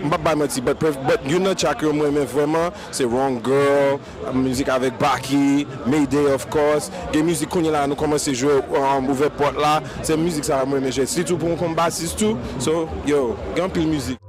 M pap bay manti but but youn nan track yo m renmen vrèman se wrong girl, mizik avèk Baky, Mayday of course, gen mizik kounye la nou kòmanse jwe ouvè pòt la se mizik sa yo m renmen jwe sitou pou yon konbasis tou so yo gen anpil mizik.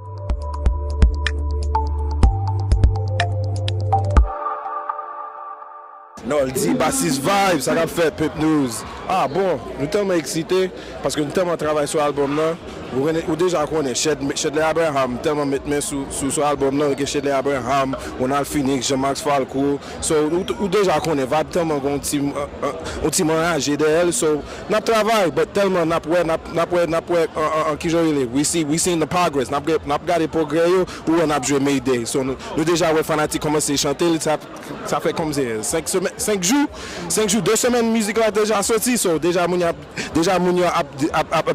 Noldy basis vibe sa kap fèt pepnews ah bon nou tèlman eksite paske nou tèlman travay sou album nan ou deja konnen chedley abraham tèlman met men sou album nan gen chedley abraham ronald phoenix jean max falco so ou deja konnen vibe tèlman gen yon team anraje dèyèl so nap travay but tèlman nap wè nap wè nap wè kijan yo rele we see we seeing the progress nap gade pwogrè yo ou wè nap jwe mayday so nou deja wè fanatik kòmanse chantel sa. Sa fè konbyen? 5 semèn? 5 jou? 5 jou? 2 semèn mizik la deja soti so deja moun yo deja moun yo ap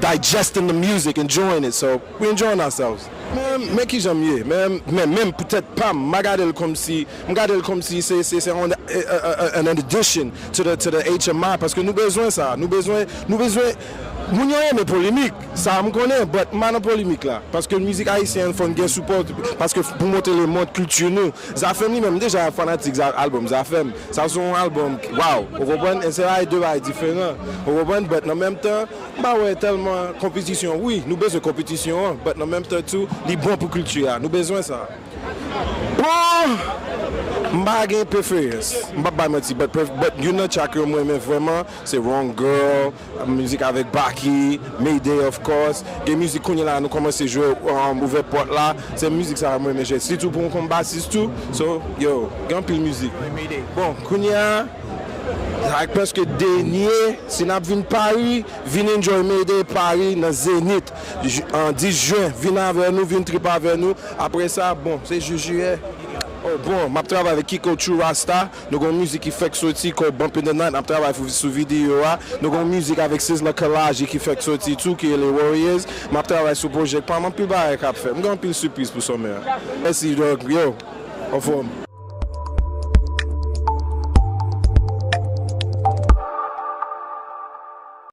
digesting the music, enjoying it so we enjoying ourselves. Men kijan m ye men menm pou tèt pa m m pa gade l konmsi m gade l konmsi se se se an addition to the to the HMI paske nou bezwen sa nou bezwen nou bezwen moun yo renmen polemik sa m konnen but m pa nan polemik la paske mizik ayisyen an fò n gen sipò paske pou montre lemond kilti nou. Zafèm li menm deja fanatik album zafèm sa se yon album waw ou konprann se bagay 2 bagay diferan ou konprann but nan menm tan m pa wè tèlman konpitisyon wi nou bezwen konpitisyon an but nan menm tan tou li bon pou kilti a nou bezwen sa bon m pa gen preferans m pap bay manti but youn nan track yo m renmen vrèman se wrong girl. Mizik avèk Baky, Mayday of course, gen mizik kounye la nou kòmanse jwe ouvè pòt la, se mizik sa yo m renmen jwe sitou pou m konn basis tou, so yo gen anpil mizik. Bon kounye a sa ak prèske dènye si nap vin Paris vin enjoy Mayday Paris nan Zenith 10 juin vin avè nou vin trip avè nou aprè sa bon se jus juillet oh bon map travay avèk Kiko True Rasta Nou gen yon mizik ki fèk soti called Bump in the Night nap travay fou sou videyo a. Nou gen yon mizik avèk Sizzla Kalonji ki fèk soti tou ki rele Warriors. Map travay sou project pam anpil bagay kap fèt. M gen anpil sipriz pou summer a. Mèsi dog yo anfòm.